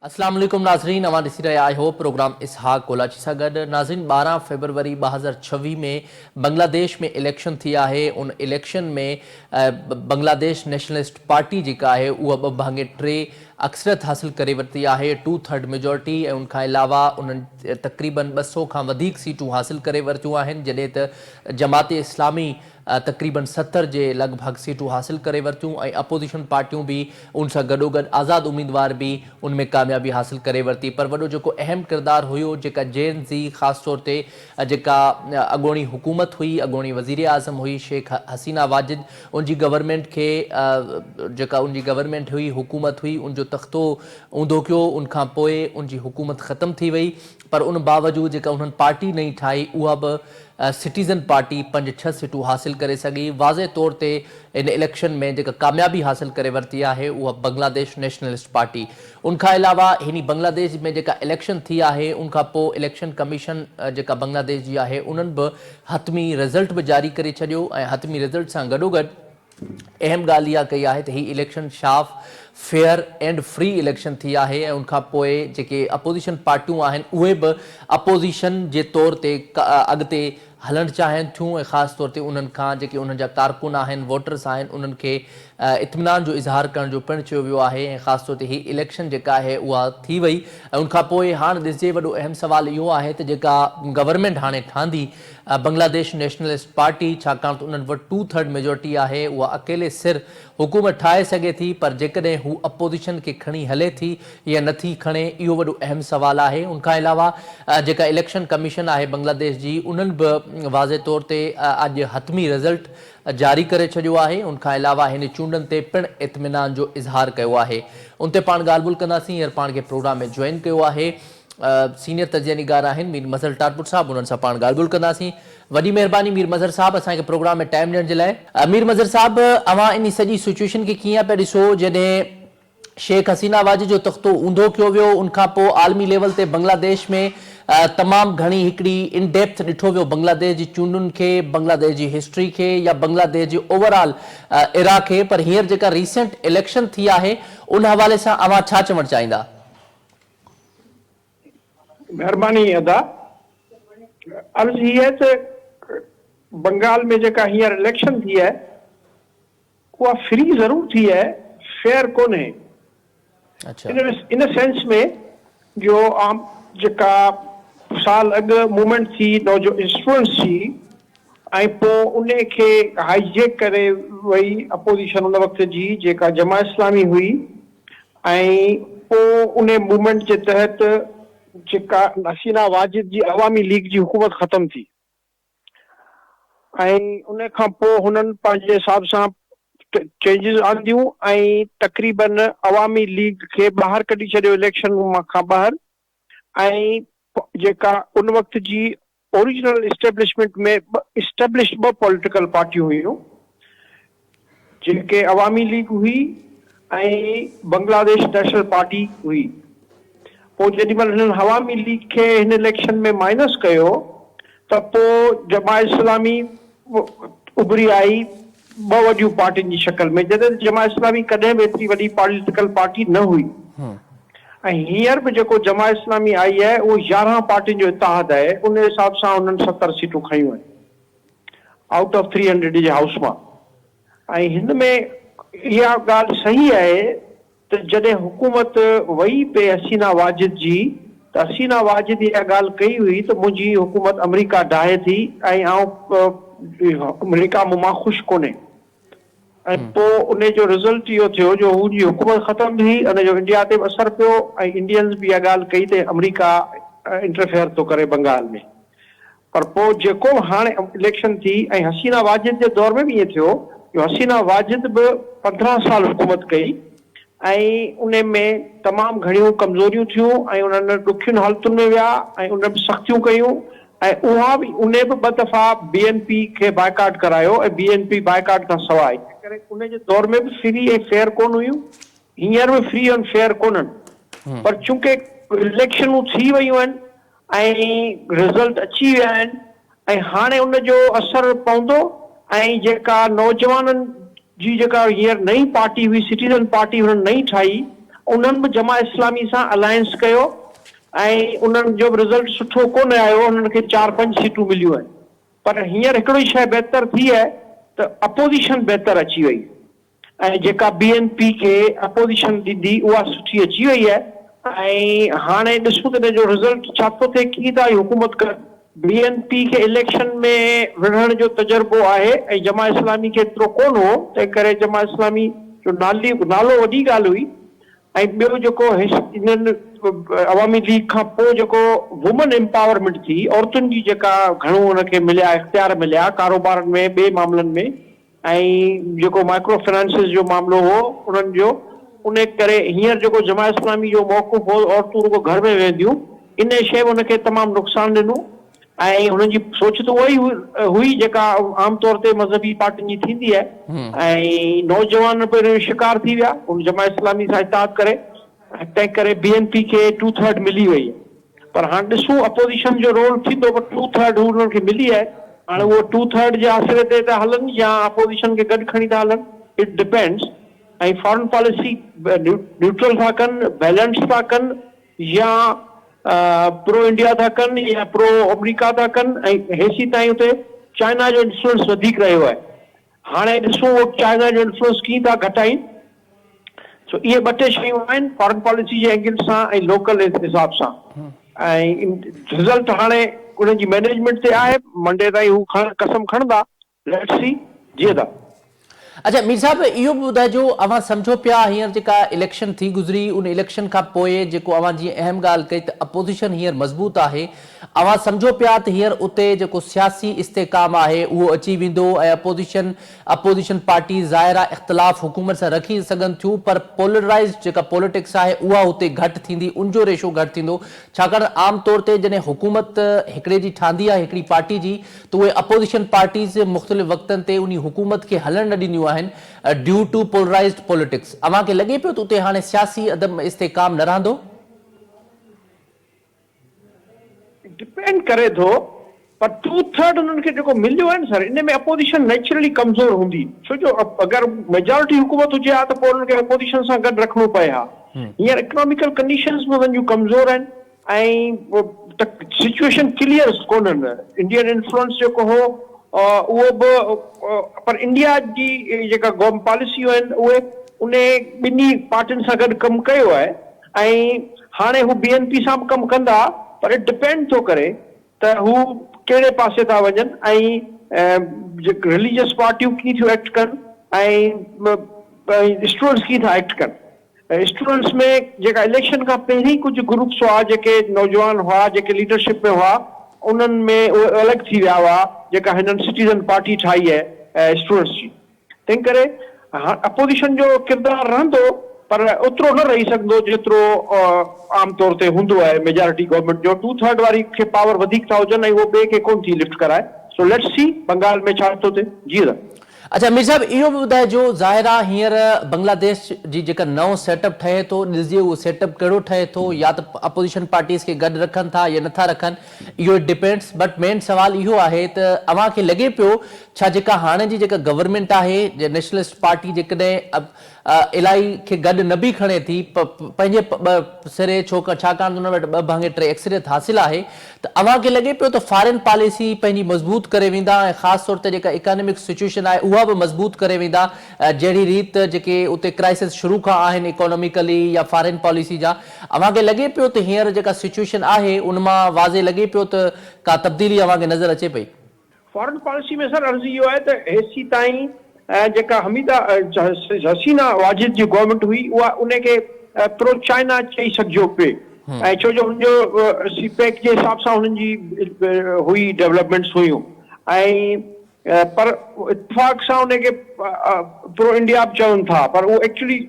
اسلام عليڪم ناظرين اوهان ڏسي رهيا آهيو پروگرام اسحاق ڪولاچي سان گڏ ناظرين ٻارهن فيبروري ٻه هزار ڇويهه ۾ بنگلاديش ۾ اليڪشن ٿي آهي ان اليڪشن ۾ بنگلاديش نيشنلسٽ پارٽي جيڪا آهي اها ٻه ڀاڱي ٽي اڪثريت حاصل ڪري ورتي آهي، ٽو ٿرڊ ميجارٽي، ۽ ان کان علاوه انهن تقريبن ٻه سؤ کان وڌيڪ سيٽون حاصل ڪري ورتيون آهن، جڏهن ته جماعت اسلامي تقريبن ستر جي لڳ ڀڳ سيٽون حاصل ڪري ورتيون ۽ اپوزيشن پارٽيون به ان سان گڏوگڏ آزاد اميدوار به ان ۾ ڪاميابي حاصل ڪري ورتي پر وڏو جيڪو اهم ڪردار هيو جيڪا جين زي خاص طور تي جيڪا اڳوڻي حڪومت هئي اڳوڻي وزيراعظم هئي شيخ حسينه واجد ان جي گورنمينٽ کي جيڪا ان جي گورنمينٽ هئي، حڪومت هئي، ان جو تختو اونڌو ڪيو، ان کان پوء ان جي حڪومت ختم ٿي وئي پر ان باوجود جيڪا انهن پارٽي نئين ٺاهي اها به سٽيزن پارٽي پنج ڇهه سيٽون حاصل ڪري سگهي، واضح طور تي ان اليڪشن ۾ جيڪا ڪاميابي حاصل ڪري ورتي آهي اها بنگلاديش نيشنلسٽ پارٽي، ان کان علاوه هني بنگلاديش ۾ جيڪا اليڪشن ٿي آهي ان کان پوء اليڪشن ڪميشن جيڪا بنگلاديش جي آهي انهن به حتمي رزلٽ به جاري ڪري ڇڏيو ۽ حتمي رزلٽ سان گڏوگڏ اهم ڳالهه اها ڪئي آهي ته هي اليڪشن شاف، فيئر اينڊ فري اليڪشن ٿي آهي ۽ ان کان پوء جيڪي اپوزيشن پارٽيون آهن اهي به اپوزيشن جي طور تي اڳتي هلڻ چاهين ٿيون ۽ خاص طور تي انهن کان جيڪي انهن جا ڪارڪن آهن، ووٽرز آهن انهن کي اطمينان جو اظهار ڪرڻ جو پڻ چيو ويو آهي ۽ خاص طور تي هي اليڪشن جيڪا آهي اها ٿي وئي ۽ ان کانپوء هاڻ ڏسجي وڏو اهم سوال اهو آهي ته جيڪا گورنمينٽ هاڻي ٺهندي بنگلاديش نيشنلسٽ پارٽي ڇاڪاڻ ته انهن وٽ ٽو ٿرڊ ميجورٽي آهي اها اڪيلي سر حڪومت ٺاهي سگهي ٿي پر جيڪڏهن هو اپوزيشن کي کڻي هلي ٿي يا نٿي کڻي اهو وڏو اهم سوال آهي ان کان علاوه جيڪا اليڪشن ڪميشن آهي بنگلاديش جي انهن به واضح طور تي اڄ حتمي رزلٽ جاري ڪري ڇڏيو آهي، ان کان علاوه هن چونڊن تي پڻ اطمينان جو اظهار ڪيو آهي، ان تي پاڻ ڳالهه ٻولهه ڪنداسين، هينئر پاڻ کي پروگرام ۾ جوائن ڪيو آهي سينيئر تجزيه نگار آهن مير مظهر ٽارپر صاحب انهن سان پاڻ ڳالهه ٻولهه ڪنداسين، وڏي مهرباني مير مظهر صاحب اسان کي پروگرام ۾ ٽائيم ڏيڻ جي لاء. مير مظهر صاحب اوهان انهي سڄي سچوئيشن کي ڪيئن پيا ڏسو جڏهن شيخ حسينه واجه جو تختو اونڌو ڪيو ويو، ان کان پوء عالمي ليول تي بنگلاديش ۾ تمام گهڻي هڪڙي ان ڊيپٿ ڏٺو ويو بنگلاديش جي چونڊن کي، بنگلاديش جي هسٽري کي يا بنگلاديش جي اوور آل ايرا کي پر هينئر جيڪا ريسينٽ اليڪشن ٿي آهي ان حوالي سان اوهان ڇا چوڻ چاهيندا؟ مهرباني ادا، عرض هي آهي ته بنگال ۾ جيڪا هينئر اليڪشن ٿي آهي اها فري ضرور ٿي آهي فيئر ڪونهي ان سينس ۾ جو عام جيڪا سال اڳ موومينٽ ٿي نوجوان اسٽوڊنٽس جي ۽ پوء ان کي هائي جيڪ ڪري وئي اپوزيشن ان وقت جي جيڪا جماعت اسلامي هئي ۽ پوء ان موومينٽ جي تحت جيڪا حسينه واجد جي عوامي ليگ جي حڪومت ختم ٿي. ۽ ان کان پوء هنن پنهنجي حساب سان چينجز آنديون ۽ تقريبا عوامي ليگ کي ٻاهر ڪڍي ڇڏيو اليڪشن کان ٻاهر ۽ جيڪا ان وقت جي اوريجنل اسٽيبلشمينٽ ۾ اسٽيبلشڊ ٻه پوليٽيڪل پارٽيون هيون جن کي عوامي ليگ هئي ۽ بنگلاديش نيشنل پارٽي هئي. پوء جيڏي مهل هنن عوامي ليگ کي هن اليڪشن ۾ مائنس ڪيو ته پوء جماعت اسلامي اڀري آئي ٻه وڏيون پارٽين جي شڪل ۾ جڏهن ته جماعت اسلامي ڪڏهن به ايتري وڏي پاليٽيڪل پارٽي نه هئي ۽ هينئر به جيڪو جماعت اسلامي آئي آهي اهو يارهن پارٽين جو اتحاد آهي ان حساب سان هنن ستر سيٽون کنيون آهن. آئوٽ آف ٿري هنڊريڊ جي هائوس مان ۽ هن ۾ اها ڳالهه صحيح آهي ته جڏهن حڪومت وئي پئي حسينا واجد جي ته حسينا واجد اها ڳالهه ڪئي هئي ته منهنجي حڪومت امريڪا ڊاهي ٿي ۽ آئون امريڪا مون مان خوش ڪونهي. ۽ پوء انهي جو رزلٽ اهو ٿيو جو هن جي حڪومت ختم ٿي ان جو انڊيا تي به اثر پيو ۽ انڊينز به اها ڳالهه ڪئي ته آمريڪا انٽرفيئر ٿو ڪري بنگال ۾ پر پوء جيڪو به هاڻي اليڪشن ٿي ۽ حسينه واجد جي دور ۾ به ائين ٿيو جو حسينه واجد به پندرهن سال حڪومت ڪئي ۽ انهي ۾ تمام گهڻيون ڪمزوريون ٿيون ۽ انهن ڏکين حالتن ۾ ويا ۽ انهن به سختيون ڪيون ۽ اها به انهي به ٻه دفعا بي اين پي کي بائيڪاٽ ڪرايو ۽ بي اين پي بائيڪاٽ کان سواء. تنهنڪري ان جي دور ۾ به فري ۽ فيئر ڪونه هيون، هينئر به فري ۽ فيئر ڪونهن پر چونڪه اليڪشنون ٿي ويون آهن ۽ رزلٽ اچي ويا آهن ۽ هاڻي ان جو اثر پوندو ۽ جيڪا نوجوانن جي جيڪا هينئر نئين پارٽي هئي سٽيزن پارٽي هنن نئين ٺاهي انهن به جماعت اسلامي سان الائنس ڪيو ۽ انهن جو به رزلٽ سٺو ڪونه آيو انهن کي چار پنج سيٽون مليون آهن پر هينئر هڪڙو ئي شيء بهتر ٿي آهي ته اپوزيشن بهتر اچي وئي ۽ جيڪا بي اين پي کي اپوزيشن ڏيندي اها سٺي اچي وئي آهي ۽ هاڻي ڏسون ته ان جو رزلٽ ڇا ٿو ٿئي ڪيئن ٿا هي حڪومت ڪن. بي اين پي کي اليڪشن ۾ وڙهڻ جو تجربو آهي ۽ جماعت اسلامي کي ايترو ڪونه هو، تنهن ڪري جماعت اسلامي جو نالو وڏي ڳالهه هئي ۽ ٻيو جيڪو انهن عوامي ليگ کان پوء جيڪو وومن امپاورمينٽ ٿي، عورتن جي جيڪا گهڻو ان کي مليا اختيار مليا ڪاروبارن ۾ ٻئي معاملن ۾، ۽ جيڪو مائڪرو فنانسز جو معاملو هو انهن جو ان ڪري هينئر جيڪو جماعت اسلامي جو موقف هو عورتون رڳو گهر ۾ ويهنديون ان شيء ان کي تمام نقصان ڏنو ۽ هنن جي سوچ ته اهائي هئي جيڪا عام طور تي مذهبي پارٽين جي ٿيندي آهي ۽ نوجوان پڻ ان جو شڪار ٿي ويا ان جماعت اسلامي سان اتحاد ڪري تنهن ڪري بي اين پي کي ٽو ٿرڊ ملي وئي پر هاڻ ڏسون اپوزيشن جو رول ٿيندو پر ٽو ٿرڊ هو انهن کي ملي آهي هاڻ اهو ٽو ٿرڊ جي آسري تي ٿا هلن يا اپوزيشن کي گڏ کڻي ٿا هلن it depends ۽ foreign policy neutral ٿا ڪن بيلنس ٿا ڪن يا پرو انڊيا ٿا ڪن يا پرو آمريڪا ٿا ڪن ۽ هيسي تائين اتي چائنا جو انفلوئنس وڌيڪ رهيو آهي هاڻي ڏسون اهي چائنا جو انفلوئنس ڪيئن ٿا گهٽائين. سو اهي ٻه ٽي شيون آهن فارن پاليسي جي اينگل سان ۽ لوڪل حساب سان ۽ رزلٽ هاڻي انهن جي مينيجمينٽ تي آهي منڊي تائين هو کڻ قسم کڻندا ليٽس سي جيئن ٿا. اڇا مير صاحب اهو به ٻڌائجو اوهان سمجهو پيا هينئر جيڪا اليڪشن ٿي گذري ان اليڪشن کان پوء جيڪو اوهان جيئن اهم ڳالهه ڪئي ته اپوزيشن هينئر مضبوط آهي اوهان سمجهو پيا ته هينئر اتي جيڪو سياسي استحڪام آهي اهو اچي ويندو ۽ اپوزيشن اپوزيشن پارٽيز ظاهرا اختلاف حڪومت سان رکي ته سگهن ٿيون پر پولرائيزڊ جيڪا پوليٽڪس آهي اها اتي گهٽ ٿيندي ان جو ريشو گهٽ ٿيندو ڇاڪاڻ ته عام طور تي جڏهن حڪومت هڪڙي جي ٺهندي آهي هڪڙي پارٽي جي ته اهي اپوزيشن پارٽيز مختلف وقتن تي انهي حڪومت کي هلڻ نه ڏينديون آهن ڊيو ٽو پولرائيزڊ پوليٽڪس اوهان کي لڳي پيو ته اتي هاڻي سياسي عدم استحڪام نه رهندو؟ ڊپينڊ ڪري ٿو پر ٽو ٿرڊ انهن کي جيڪو مليو آهي نه سر ان ۾ اپوزيشن نيچرلي ڪمزور هوندي ڇو جو اگر ميجارٽي حڪومت هجي ها ته پوء انهن کي اپوزيشن سان گڏ رکڻو پئي ها هينئر اڪناميڪل ڪنڊيشنز به انهن جون ڪمزور آهن ۽ سچويشن ڪليئر ڪونهن انڊين انفلوئنس جيڪو هو اهو به پر انڊيا جي جيڪا گوم پاليسيون آهن اهي انهي ٻنهي پارٽين سان گڏ ڪم ڪيو آهي ۽ هاڻي هو بي اين پي سان به ڪم ڪندا پر ڊپينڊ ٿو ڪري ته هو ڪهڙي پاسي ٿا وڃن ۽ رليجس پارٽيون ڪيئن ٿيون ايڪٽ ڪن ۽ اسٽوڊنٽس ڪيئن ٿا ايڪٽ ڪن اسٽوڊنٽس ۾ جيڪا اليڪشن کان پهرين ڪجهه گروپس هئا جيڪي نوجوان هئا جيڪي ليڊرشپ ۾ هئا انهن ۾ اهي الڳ ٿي ويا هئا جيڪا هنن سٽيزن پارٽي ٺاهي اسٽوڊنٽس جي تنهنڪري هاڻ اپوزيشن جو ڪردار رهندو پر اوترو نه رهي سگهندو جيترو عام طور تي هوندو آهي ميجارٽي گورنمينٽ جو ٽو ٿرڊ واري کي پاور وڌيڪ ٿا هجن ۽ هو ٻئي کي ڪونه ٿي لفٽ ڪرائي سو ليٽس سي بنگال ۾ ڇا ٿو ٿئي جي سر. اڇا مير صاحب اهو به ٻڌائجو ظاهر آ هينئر بنگلاديش جي جيڪا نئون سيٽ اپ ٺهي ٿو ڏسجي اهو سيٽ اپ ڪهڙو ٺهي ٿو يا ته اپوزيشن پارٽيز کي گڏ رکن ٿا يا نٿا رکن اهو اٽ ڊپينڊس بٽ مين سوال اهو آهي ته اوهان کي لڳي پيو ڇا جيڪا هاڻي جي جيڪا گورنمينٽ آهي جي نيشنلسٽ پارٽي جيڪڏهن الائي کي گڏ نه به کڻي ٿي پ پنهنجي ٻه سري ڇو ڇاڪاڻ ته ان وٽ ٻه ڀاڱي ٽي اڪثريت حاصل آهي ته اوهان کي لڳي پيو ته فارين پاليسي پنهنجي مضبوط ڪري ويندا ۽ خاص طور تي جيڪا اڪانمڪ سچويشن آهي اها به مضبوط ڪري ويندا جهڙي ريت جيڪي اتي ڪرائسس شروع کان آهن اڪانميڪلي يا فارين پاليسي جا اوهان کي لڳي پيو ته هينئر جيڪا سچوئيشن آهي ان مان واضح لڳي پيو ته ڪا تبديلي اوهان کي نظر اچي پئي؟ فارن پاليسي ۾ سر عرض اهو آهي ته هيسي تائين جيڪا حميده حسينه واجد جي گورنمينٽ هئي اها ان کي پرو چائنا چئي سگهجو پئي ۽ ڇو جو هن جو سي پيڪ جي حساب سان هنن جي هئي ڊولپمينٽس هيون ۽ پر اتفاق سان ان کي پرو انڊيا به چون ٿا پر اهو ايڪچولي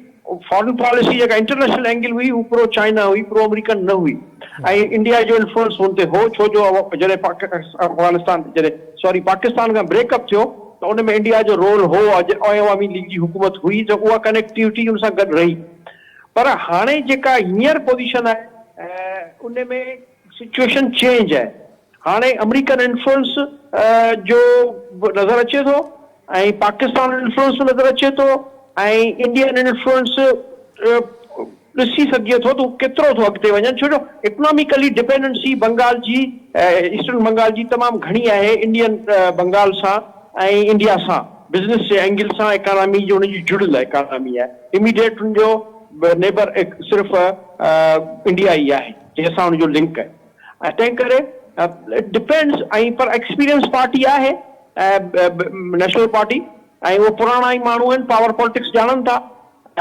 فارن پاليسي جيڪا انٽرنيشنل اينگل هئي اهو پرو چائنا هئي پرو امريڪن نه هئي ۽ انڊيا جو انفلوئنس ان تي هو ڇو جو جڏهن افغانستان جڏهن سوري پاڪستان کان بريڪ اپ ٿيو ته ان ۾ انڊيا جو رول هو ۽ عوامي ليگ جي حڪومت هئي ته اها ڪنيڪٽيوٽي ان سان گڏ رهي پر هاڻي جيڪا هينئر پوزيشن آهي ان ۾ سچوئيشن چينج آهي هاڻي امريڪن انفلوئنس جو به نظر اچي ٿو ۽ پاڪستان انفلوئنس به نظر اچي ٿو ۽ انڊين انفلوئنس ڏسي سگهجي ٿو ته هو ڪيترو ٿو اڳتي وڃن ڇو جو اڪناميڪلي ڊپينڊنسي بنگال جي ايسٽرن بنگال جي تمام گهڻي آهي انڊين بنگال سان ۽ انڊيا سان بزنس جي اينگل سان اڪانامي جو ان جي جڙيل اڪانامي آهي اميڊيٽ ان جو نيبر صرف انڊيا ئي آهي. جنهن سان ان جو لنڪ ۽ تنهن ڪري اٽ ڊپينڊس ۽ پر ايڪسپيرينس پارٽي آهي نيشنل پارٽي ۽ اهي پراڻا ئي ماڻهو آهن پاور پالٽڪس ڄاڻن ٿا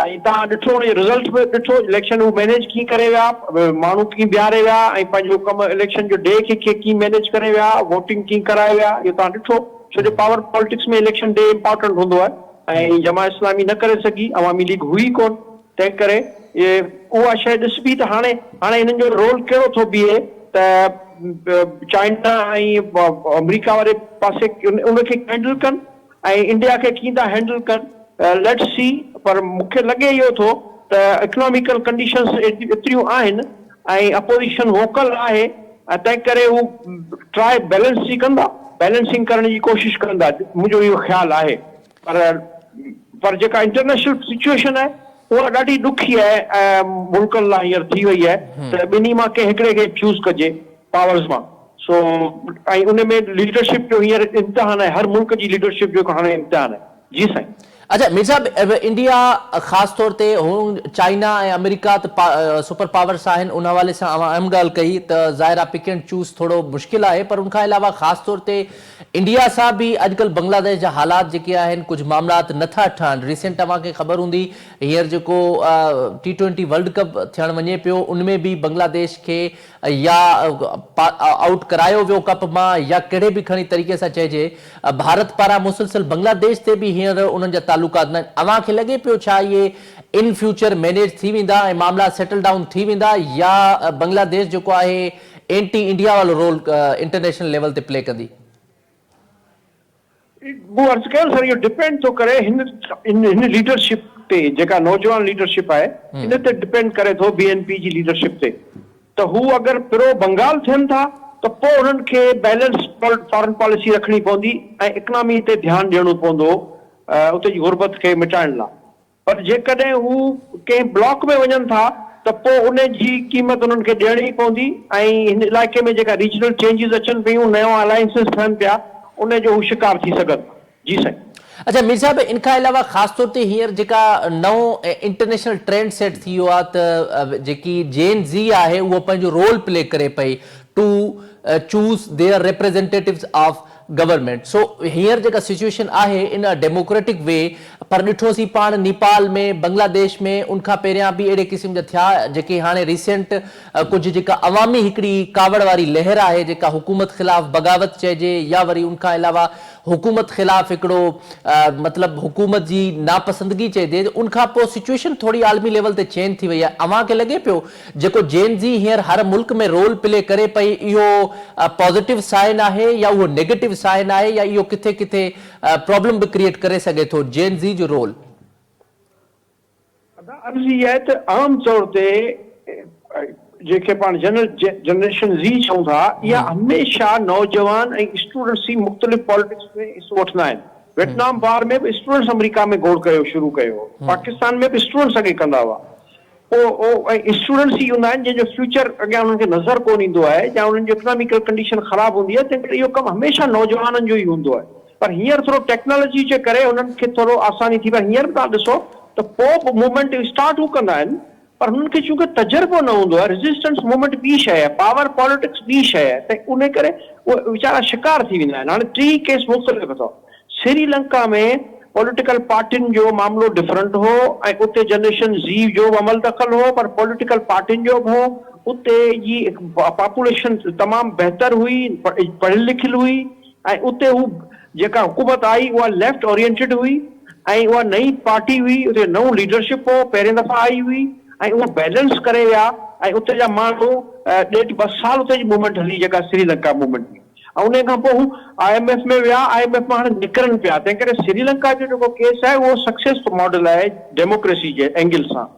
۽ تهان ڏٺو ان جو رزلٽ به ڏٺو اليڪشن هو مينيج ڪيئن ڪري ويا ماڻهو ڪيئن بيهاري ويا ۽ پنهنجو ڪم اليڪشن جو ڊي کي ڪيئن مينيج ڪري ويا ووٽنگ ڪيئن ڪرائي ويا اهو تهان ڏٺو ڇو جو power politics ۾ election day important هوندو آهي ۽ جماعت اسلامي نه ڪري سگهي عوامي ليگ هئي ڪون. تنهنڪري اها شيء ڏسبي ته هاڻي هاڻي هنن جو رول ڪهڙو ٿو بيهي ته چائنا ۽ آمريڪا واري پاسي ان کي هينڊل ڪن ۽ انڊيا کي ڪيئن ٿا هينڊل ڪن ليٽس سي پر مون کي لڳي اهو ٿو ته اڪناميڪل ڪنڊيشنس ايتريون آهن ۽ اپوزيشن ووڪل آهي تنهنڪري هو ٽرائي بيلنس جي ڪندا بيلنسنگ ڪرڻ جي ڪوشش ڪندا منهنجو اهو خيال آهي. پر پر جيڪا انٽرنيشنل سچوئيشن آهي اها ڏاڍي ڏکي آهي ۽ ملڪن لاء هينئر ٿي وئي آهي ته ٻنهي مان ڪنهن هڪڙي کي چوز ڪجي پاورز مان سو ۽ ان ۾ ليڊرشپ جو هينئر امتحان آهي هر ملڪ جي ليڊرشپ جو هاڻي امتحان آهي جي سائين. اچا مير صاحب انڊيا خاص طور تي هون چائنا ۽ آمريڪا ته سپر پاورس آهن ان حوالي سان اوهان اهم ڳالهه ڪئي ته ظاهر آهي پڪ اينڊ چوز ٿورو مشڪل آهي پر ان کان علاوه خاص طور تي انڊيا سان به اڄڪلھ بنگلاديش جا حالات جيڪي آهن ڪجھ معاملات نه ٿا ٺھن ريسينٽ اوهان کي خبر هوندي هينئر جيڪو ٽي ٽوئنٽي ورلڊ ڪپ ٿيڻ وڃي پيو ان ۾ به بنگلاديش کي يا آئوٽ ڪرايو ويو ڪپ مان يا ڪهڙي به کڻي طريقي سان چئجي ڀارت پاران مسلسل بنگلاديش تي به هينئر انهن جا تعلقات نه اوهان کي لڳي پيو ڇا اهي ان فيوچر مينيج ٿي ويندا ۽ معاملا سيٽل ڊائون ٿي ويندا يا بنگلاديش جيڪو آهي اينٽي انڊيا وارو رول انٽرنيشنل ليول تي پلي ڪندي. مون عرض ڪيو سر اهو ڊپينڊ ٿو ڪري هن هن ليڊرشپ تي جيڪا نوجوان ليڊرشپ آهي ان تي ڊپينڊ ڪري ٿو بي اين پي جي ليڊرشپ تي ته هو اگر پرو بنگال ٿين ٿا ته پوء انهن کي بيلنس فارن پاليسي رکڻي پوندي ۽ اڪنامي تي ڌيان ڏيڻو پوندو اتي جي غربت کي مٽائڻ لاء پر جيڪڏهن هو ڪنهن بلاڪ ۾ وڃن ٿا ته پوء ان جي قيمت انهن کي ڏيڻي پوندي ۽ هن علائقي ۾ جيڪا ريجنل چينجز اچن پيون، نيون الائنسز ٺهن پيا، ان جو هو شڪار ٿي سگهن ٿا. جي سائين. اڇا مير صاحب ان کان علاوه خاص طور تي هينئر جيڪا نئون انٽرنيشنل ٽرينڊ سيٽ ٿي ويو آهي ته جيڪي جين زي آهي اهو پنهنجو رول پلي ڪري پئي to choose their representatives of government سو هينئر جيڪا سچوئيشن آهي ان ا ڊيموڪريٽڪ وي پر ڏٺوسين پاڻ نيپال ۾ بنگلاديش ۾ ان کان پهريان به اهڙي قسم جا ٿيا جيڪي هاڻي ريسينٽ ڪجهه جيڪا عوامي هڪڙي ڪاوڙ واري لهر آهي جيڪا حڪومت خلاف بغاوت چئجي يا وري ان کان علاوه حڪومت خلاف هڪڙو مطلب حڪومت جي ناپسندگي چئجي ان کان پوء سچوئيشن ٿوري عالمي ليول تي چينج ٿي وئي آهي اوهان کي لڳي پيو جيڪو جين زي هينئر هر ملڪ ۾ رول پلي ڪري پئي اهو پازيٽو سائن آهي يا اهو نيگيٽو سائن آهي يا اهو ڪٿي ڪٿي پرابلم به ڪريئيٽ ڪري سگهي ٿو جين زي جو رول. ادا عرض اها آهي ته عام طور تي جنهن کي پاڻ جنريشن زي چئون ٿا اها هميشه نوجوان ۽ اسٽوڊنٽس ئي مختلف پالٽڪس ۾ حصو وٺندا آهن ويٽنام وار ۾ به اسٽوڊنٽس آمريڪا ۾ گوڙ ڪيو شروع ڪيو هو پاڪستان ۾ به اسٽوڊنٽس اڳي ڪندا هئا اهي اسٽوڊنٽس ئي هوندا آهن جن جو فيوچر اڳيان انهن کي نظر ڪونه ايندو آهي يا انهن جو اڪناميڪل ڪنڊيشن خراب هوندي آهي تنهن ڪري اهو ڪم هميشه نوجوانن جو ئي هوندو آهي پر هينئر ٿورو ٽيڪنالاجي جي ڪري انهن کي ٿورو آساني ٿي پر هينئر به توهان ڏسو ته پوپ موومينٽ اسٽارٽ هو ڪندا آهن پر هنن کي چونڪه تجربو نه هوندو آهي ريزسٽنس موومينٽ ٻي شيء آهي پاور پاليٽڪس ٻي شيء آهي ته انهي ڪري اهي ويچارا شڪار ٿي ويندا آهن هاڻي ٽيئي ڪيس مختلف اٿو سري لنڪا ۾ پوليٽيڪل پارٽين جو معاملو ڊفرنٽ هو ۽ اتي جنريشن زي جو به عمل دخل هو پر پوليٽيڪل پارٽين جو به هو اتي جي پاپوليشن تمام بهتر هئي پڙهيل لکيل هئي ۽ اتي هو جيڪا حڪومت آئي اها ليفٽ اورينٽيڊ هئي ۽ اها نئين پارٽي هئي اتي نئون ليڊرشپ هو پهرين دفعا آئي هئي ۽ اهو بيلنس ڪري ويا ۽ اتي جا ماڻهو ڏيڍ ٻه سال اتي جي موومينٽ هلي جيڪا سري لنڪا موومينٽ هئي. ۽ انهي کان پوء هو آء ايم ايف ۾ ويا، آء ايم ايف مان هاڻي نڪرن پيا، تنهن ڪري سريلنڪا جو جيڪو ڪيس آهي اهو سڪسيس ماڊل آهي ڊيموڪريسي جي اينگل سان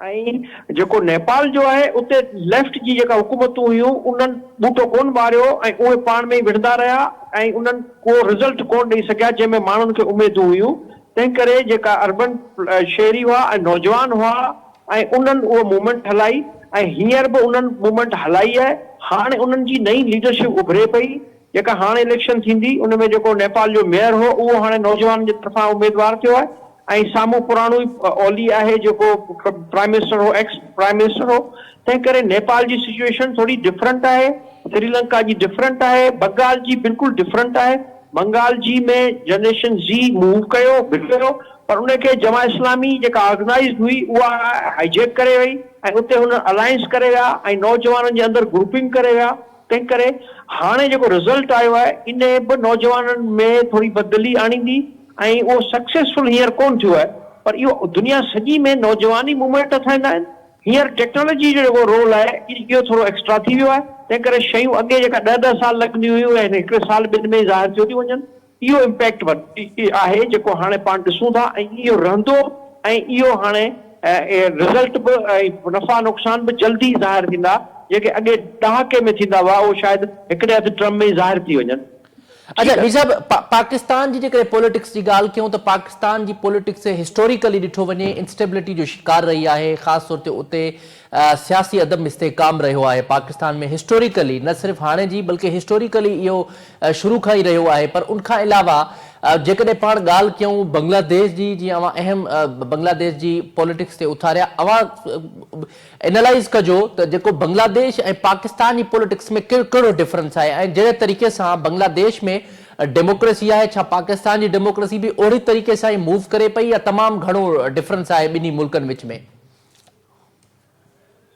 ۽ جيڪو نيپال جو آهي اتي ليفٽ جي جيڪا حڪومتون هيون انهن ٻوٽو ڪونه ٻاريو ۽ اهي پاڻ ۾ ئي وڙهندا رهيا ۽ انهن ڪو رزلٽ ڪونه ڏئي سگهيا جنهن ۾ ماڻهن کي اميدون هيون تنهن ڪري جيڪا اربن شهري هئا ۽ نوجوان هئا ۽ انهن اهو موومينٽ هلائي ۽ هينئر به انهن موومينٽ هلائي آهي. هاڻ انهن جي نئين ليڊرشپ اڀري پئي جيڪا هاڻ اليڪشن ٿيندي ان ۾ جيڪو نيپال جو ميئر هو اهو هاڻي نوجوانن جي طرفان اميدوار ٿيو آهي ۽ سامهون پراڻو ئي اولي آهي جيڪو پرائيم منسٽر هو ايڪس پرائيم منسٽر هو تنهن ڪري نيپال جي سچوئيشن ٿوري ڊفرنٽ آهي سريلنڪا جي ڊفرنٽ آهي بنگال جي بلڪل ڊفرنٽ آهي بنگال جي ۾ جنريشن زي موو ڪيو ڀٽو پر ان کي جماعت اسلامي جيڪا آرگنائيزڊ هئي اها هائي جيڪ ڪري وئي ۽ اتي هن الائنس ڪري ويا ۽ نوجوانن جي اندر گروپنگ ڪري ويا تنهن ڪري هاڻي جيڪو رزلٽ آيو آهي ان به نوجوانن ۾ ٿوري بدلي آڻيندي ۽ اهو سڪسيسفل هينئر ڪونه ٿيو آهي پر اهو دنيا سڄي ۾ نوجوان ئي موومينٽ اٿائيندا آهن هينئر ٽيڪنالاجي جو جيڪو رول آهي اهو ٿورو ايڪسٽرا ٿي ويو آهي تنهن ڪري شيون اڳي جيڪا ڏهه ڏهه سال لڳنديون هيون اهي هڪڙي سال ٻن ۾ ئي ظاهر ٿيو ٿيون وڃن. اهو امپيڪٽ آهي جيڪو هاڻي پاڻ ڏسون ٿا ۽ اهو رهندو ۽ اهو هاڻي رزلٽ به ۽ نفعا نقصان به جلد ئي ظاهر ٿيندا جيڪي اڳي ڏهاڪي ۾ ٿيندا هئا اهو شايد هڪڙي اڌ ٽرم ۾ ئي ظاهر ٿي وڃن. اچا مير صاحب پاڪستان جي جيڪڏهن پوليٽڪس جي ڳالهه ڪيون ته پاڪستان جي پوليٽڪس هسٽوريڪلي ڏٺو وڃي انسٽيبلٽي جو شڪار رهي آهي خاص طور تي اتي سياسي عدم استحڪام رهيو آهي پاڪستان ۾ هسٽوريڪلي نه صرف هاڻي جي بلڪه هسٽوريڪلي اهو شروع کان ئي رهيو آهي پر ان کان علاوه جيڪڏهن پاڻ ڳالهه ڪيون بنگلا ديش جي جي اوهان اهم بنگلا ديش جي پوليٽڪس تي اٿاريا اوهان انالائز ڪجو ته جيڪو بنگلا ديش ۽ پاڪستان جي پوليٽڪس ۾ ڪهڙو ڊفرنس آهي ۽ جهڙي طريقي سان بنگلا ديش ۾ ڊيموڪريسي آهي ڇا پاڪستان جي ڊيموڪريسي به اوهڙي طريقي سان ئي موو ڪري پئي يا تمام گهڻو ڊفرنس آهي ٻنهي ملڪن وچ ۾.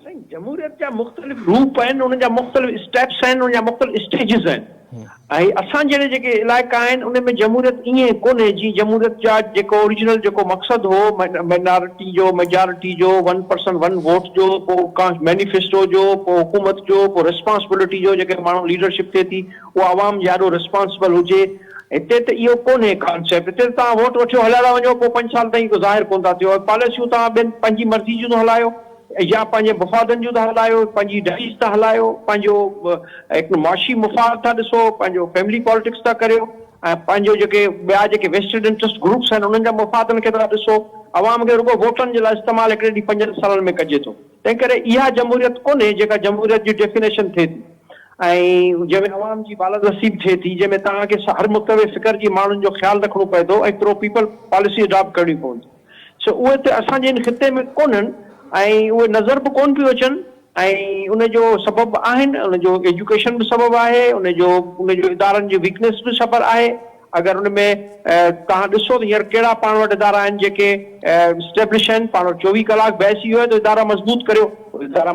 سائين جمهوريت جا مختلف روپ آهن ان جا مختلف اسٽيپس آهن ان جا مختلف اسٽيجز آهن ۽ اسان جهڙي جيڪي علائقا آهن ان ۾ جمهوريت ائين ڪونهي جيئن جمهوريت جا جيڪو اوريجنل جيڪو مقصد هو مائنارٽي جو ميجارٽي جو ون پرسن ون ووٽ جو پوء ڪانس مينيفيسٽو جو پوء حڪومت جو پوء ريسپانسبلٽي جو جيڪي ماڻهو ليڊرشپ ٿئي ٿي اهو عوام جي آڏو رسپانسبل هجي. هتي ته اهو ڪونهي ڪانسيپٽ. هتي ته توهان ووٽ وٺيو هليا ٿا وڃو پوء پنج سال تائين ڪو ظاهر ڪونه ٿا ٿيو. پاليسيون توهان ٻين پنهنجي مرضي جون ٿو هلايو يا پنهنجي مفادن جون ٿا هلايو، پنهنجي ڊائيز ٿا هلايو، پنهنجو هڪ معاشي مفاد ٿا ڏسو، پنهنجو فيملي پالٽڪس ٿا ڪريو ۽ پنهنجو جيڪي ٻيا جيڪي ويسٽيڊ انٽريسٽ گروپس آهن انهن جا مفادن کي ٿا ڏسو. عوام کي رڳو ووٽن جي لاء استعمال هڪڙي ڏينهن پنجن سالن ۾ ڪجي ٿو. تنهنڪري اها جمهوريت ڪونهي جيڪا جمهوريت جي ڊيفينيشن ٿئي ٿي ۽ جنهن ۾ عوام جي بالادستي به ٿئي ٿي جنهن ۾ توهان کي هر متنوع فڪر جي ماڻهن جو خيال رکڻو پوي ٿو ۽ پرو پيپل پاليسي اڊاپٽ ڪرڻيون پون ٿيون سو اهي ته اسان جي هن خطي ۾ ڪونهن ۽ اهي نظر به ڪون پيون اچن ۽ ان جو سبب به آهن ان جو ايجوڪيشن به سبب آهي ان جو ان جو ادارن جي ويڪنيس به سبب آهي. اگر ان ۾ توهان ڏسو ته هينئر ڪهڙا پاڻ وٽ ادارا آهن جيڪي اسٽيبلش آهن، پاڻ وٽ چوويهه ڪلاڪ بحث اهو آهي ته ادارا مضبوط ڪريو، ادارا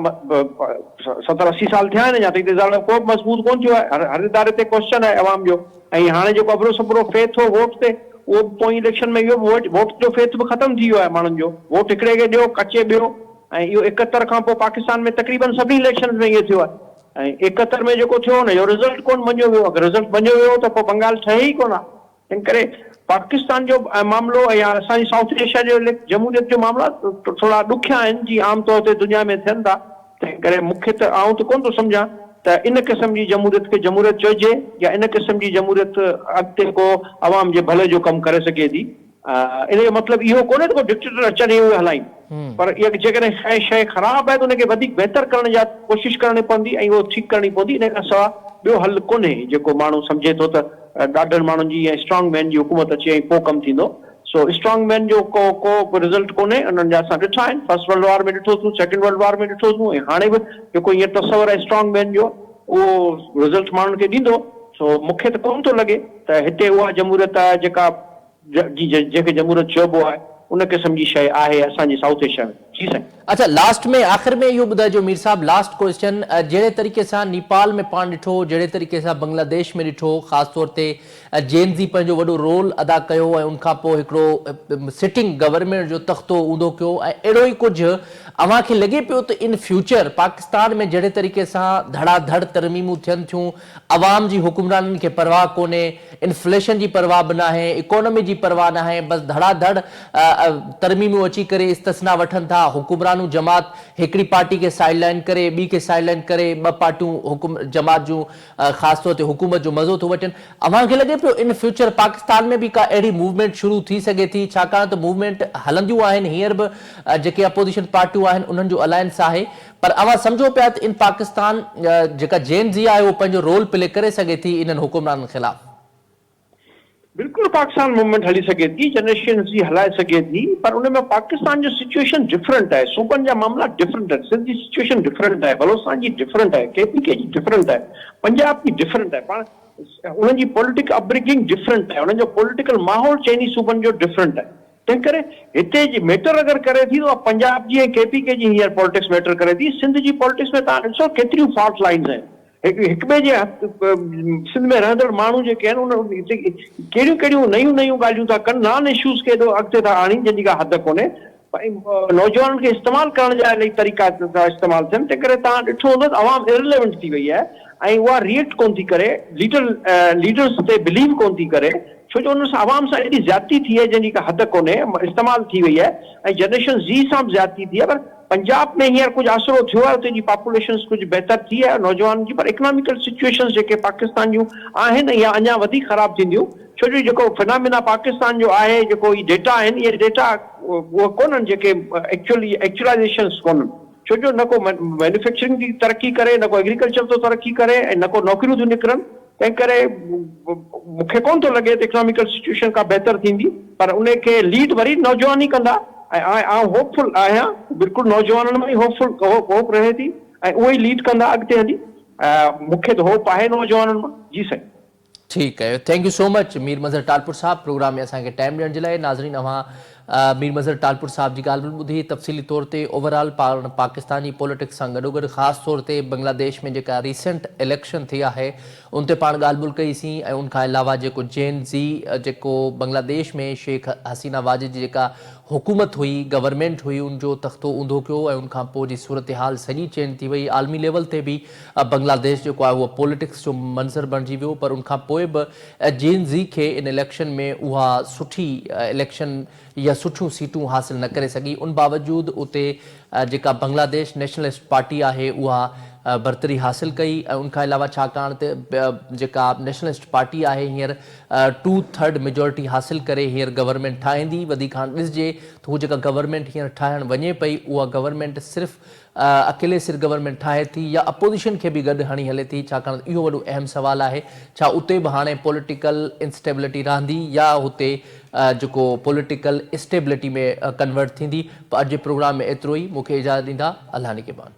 ستر اسي سال ٿيا آهن اڃا تائين ته ادارو ڪو به مضبوط ڪونه ٿيو آهي، هر اداري تي ڪوئسچن آهي عوام جو ۽ هاڻي جيڪو ابرو سٻرو فيٿ هو ووٽ تي اهو به پوئين اليڪشن ۾ اهو به ووٽ جو فيٿ به ختم ٿي ويو آهي ماڻهن جو ووٽ هڪڙي کي ڏيو ڪچي ٻيو ۽ اهو اڪهتر کان پوء پاڪستان ۾ تقريبن سڀني اليڪشنز ۾ اهو ٿيو آهي. ۽ ايڪهتر ۾ جيڪو ٿيو ان جو رزلٽ ڪونه مڃيو ويو اگر رزلٽ مڃيو ويو هو ته پوء بنگال ٺهي ئي ڪونه ها تنهن ڪري پاڪستان جو معاملو يا اسان جي سائوٿ ايشيا جو اليڪ جمهوريت جو معاملا ٿورا ڏکيا آهن جي عام طور تي دنيا ۾ ٿين ٿا تنهن ڪري مون کي ته آئون ته ڪونه ٿو سمجهان ته ان قسم جي جمهوريت کي جمهوريت چئجي يا ان قسم جي جمهوريت اڳتي ڪو عوام جي ڀلي جو ڪم ڪري سگهي ٿي ان جو مطلب اهو ڪونهي ته ڪو ڊڪٽيٽر اچن ۽ اهي هلائين پر جيڪڏهن ڪا شيء خراب آهي ته ان کي وڌيڪ بهتر ڪرڻ جا ڪوشش ڪرڻي پوندي ۽ اهو ٺيڪ ڪرڻي پوندي ان کان سواء ٻيو حل ڪونهي جيڪو ماڻهو سمجهي ٿو ته ڏاڍن ماڻهن جي ۽ اسٽرانگ مين جي حڪومت اچي ۽ پوء ڪم ٿيندو سو اسٽرانگ مين جو ڪو ڪو به رزلٽ ڪونهي انهن جا اسان ڏٺا آهن فرسٽ ورلڊ وار ۾ ڏٺو سون سيڪنڊ ورلڊ وار ۾ ڏٺو سون ۽ هاڻي به جيڪو هينئر تصور آهي اسٽرانگ مين جو اهو رزلٽ ماڻهن کي ڏيندو سو مون کي ته ڪونه ٿو لڳي ته هتي اها جمهوريت آهي جيڪا جي جنهن کي جمهوريت چئبو آهي ان قسم جي شيء آهي اسان جي سائوٿ ايشيا ۾. جي سائين. اڇا لاسٽ ۾ آخر ۾ اهو ٻڌائجو مير صاحب لاسٽ ڪوئسچن جهڙي طريقي سان نيپال ۾ پاڻ ڏٺو جهڙي طريقي سان بنگلا ديش ۾ ڏٺو خاص طور تي جين زي پنهنجو وڏو رول ادا ڪيو ۽ ان کان پوء هڪڙو سٽنگ گورنمينٽ جو تختو اونڌو ڪيو ۽ اهڙو ئي ڪجهه اوهان کي لڳي پيو ته ان فيوچر پاڪستان ۾ جهڙي طريقي سان ڌڙا ڌڙ ترميمون ٿين ٿيون عوام جي حڪمرانن کي پرواهه ڪونهي، انفليشن جي پرواهه به ناهي، اڪانومي جي پرواهه ناهي، بس ڌڙا ڌڙ ترميمون اچي ڪري استثنا وٺن ٿا، حڪمرانون جماعت هڪڙي پارٽي کي سائيڊ لائين ڪري ٻي کي سائيڊ لائين ڪري ٻه پارٽيون حڪم جماعت جون خاص طور تي حڪومت جو مزو ٿو وٺين، اوهان کي لڳي پيو ان فيوچر پاڪستان ۾ به ڪا اهڙي موومينٽ شروع ٿي سگهي ٿي ڇاڪاڻ ته موومينٽ هلنديون آهن هينئر به جيڪي اپوزيشن پارٽيون آهن انهن جو الائنس آهي پر اوهان سمجهو پيا ته ان پاڪستان جيڪا جين زي آهي اهو پنهنجو رول پلي ڪري سگهي ٿي انهن حڪمرانن خلاف؟ بلڪل پاڪستان موومينٽ هلي سگهي ٿي جنريشن زي هلائي سگهي ٿي پر ان ۾ پاڪستان جو سچوئيشن ڊفرنٽ آهي صوبن جا معاملا ڊفرنٽ آهن سنڌ جي سچوئيشن ڊفرنٽ آهي بلوچستان جي ڊفرنٽ آهي ڪي پي ڪي جي ڊفرنٽ آهي پنجاب جي ڊفرنٽ آهي پاڻ انهن جي پوليٽڪ اپبرگنگ ڊفرنٽ آهي انهن جو پوليٽيڪل ماحول چئني صوبن جو ڊفرنٽ آهي. تنهنڪري هتي جي ميٽر اگر ڪري ٿي ته اها پنجاب جي ۽ ڪي پي ڪي جي هينئر پالٽڪس ميٽر ڪري ٿي. سنڌ جي پالٽڪس ۾ توهان ڏسو ڪيتريون فالٽ لائنز آهن. هڪ هڪ ٻئي جي سنڌ ۾ رهندڙ ماڻهو جيڪي آهن ان هتي ڪهڙيون ڪهڙيون نيون نيون ڳالهيون ٿا ڪن نان اشوز کي ايڏو اڳتي ٿا آڻين جنهن جي ڪا حد ڪونهي ۽ نوجوانن کي استعمال ڪرڻ جا الائي طريقا ٿا استعمال ٿين تنهنڪري توهان ڏٺو هوندو ته عوام Irrelevant ٿي وئي آهي ۽ اها React ڪونه ٿي ڪري ليڊر ليڊرز تي Believe ڪونه ٿي ڪري. ڇو جو انهن سان عوام سان ايڏي زيادتي ٿي آهي جنهن جي ڪا حد ڪونهي استعمال ٿي وئي آهي ۽ جنريشن زي سان به زيادتي ٿي آهي پر پنجاب ۾ هينئر ڪجهه آسرو ٿيو آهي اتي جي پاپوليشنس ڪجهه بهتر ٿي آهي نوجوانن جي پر اڪناميڪل سچويشنس جيڪي پاڪستان جون آهن اهي اڃان وڌيڪ خراب ٿينديون ڇو جو جيڪو فنامينا پاڪستان جو آهي جيڪو هي ڊيٽا آهن اهي ڊيٽا اهي ڪونهن جيڪي ايڪچوئلي ايڪچوئلائيزيشنس ڪونهن ڇو جو نه ڪو مينوفيڪچرنگ ٿي ترقي ڪري نه ڪو ايگريڪلچر ٿو ترقي ڪري ۽ نه ڪو نوڪريون ٿيون نڪرن. تنهن ڪري مون کي ڪونه ٿو لڳي ته اڪناميڪل سچوئيشن ڪا بهتر ٿيندي پر ان کي ليڊ وري نوجوان ئي ڪندا ۽ آء آئون هوپ فل آهيان بلڪل نوجوانن مان ئي هوپ فل هوپ رهي ٿي ۽ اهي ئي ليڊ ڪندا اڳتي هلي مون کي ته هوپ آهي نوجوانن مان جي سائين. ٺيڪ thank you so much Mir Mazhar Talpur Sahib programme ۾ اسان کي ٽائيم ڏيڻ جي لاء ناظرين اوهان مير مظهر ٽالپر صاحب جي ڳالهه به ٻڌي، تفصيلي طور تي اوور آل پاڻ پاڪستاني پوليٽڪس سان گڏوگڏ خاص طور تي بنگلاديش ۾ جيڪا ريسينٽ اليڪشن ٿي آهي ان تي پاڻ ڳالهه ٻولهه ڪئي سين ۽ ان کان علاوه جيڪو جين زي جيڪو بنگلاديش ۾ شيخ حسينه واجد جي جيڪا حڪومت هئي گورنمينٽ هئي ان جو تختو اونڌو ڪيو ۽ ان کان پوء جي صورتحال سڄي چينج ٿي وئي عالمي ليول تي به بنگلاديش جيڪو آهي اهو پوليٽڪس جو منظر بڻجي ويو پر ان کان پوء به جين زي کي ان اليڪشن ۾ اها سٺي اليڪشن يا سٺيون سيٽون حاصل نه ڪري سگهي ان باوجود اتي جيڪا بنگلاديش نيشنلسٽ پارٽي آهي اها برتري حاصل ڪئي ۽ ان کان علاوه ڇاڪاڻ ته جيڪا نيشنلسٽ پارٽي آهي هينئر ٽو ٿرڊ ميجورٽي حاصل ڪري هينئر گورنمينٽ ٺاهيندي وڌيڪ هاڻ ڏسجي ته هو جيڪا گورنمينٽ هينئر ٺاهڻ وڃي پئي اها گورنمينٽ صرف اڪيلي سر گورنمينٽ ٺاهي ٿي يا اپوزيشن کي به گڏ هڻي هلي ٿي ڇاڪاڻ ته اهو وڏو اهم سوال آهي ڇا اتي به هاڻي پوليٽيڪل انسٽيبلٽي رهندي يا هتي جيڪو پوليٽيڪل اسٽيبلٽي ۾ ڪنورٽ ٿيندي پ اڄ جي پروگرام ۾ ايترو ئي مون کي اجازت ڏيندا الله نگهبان.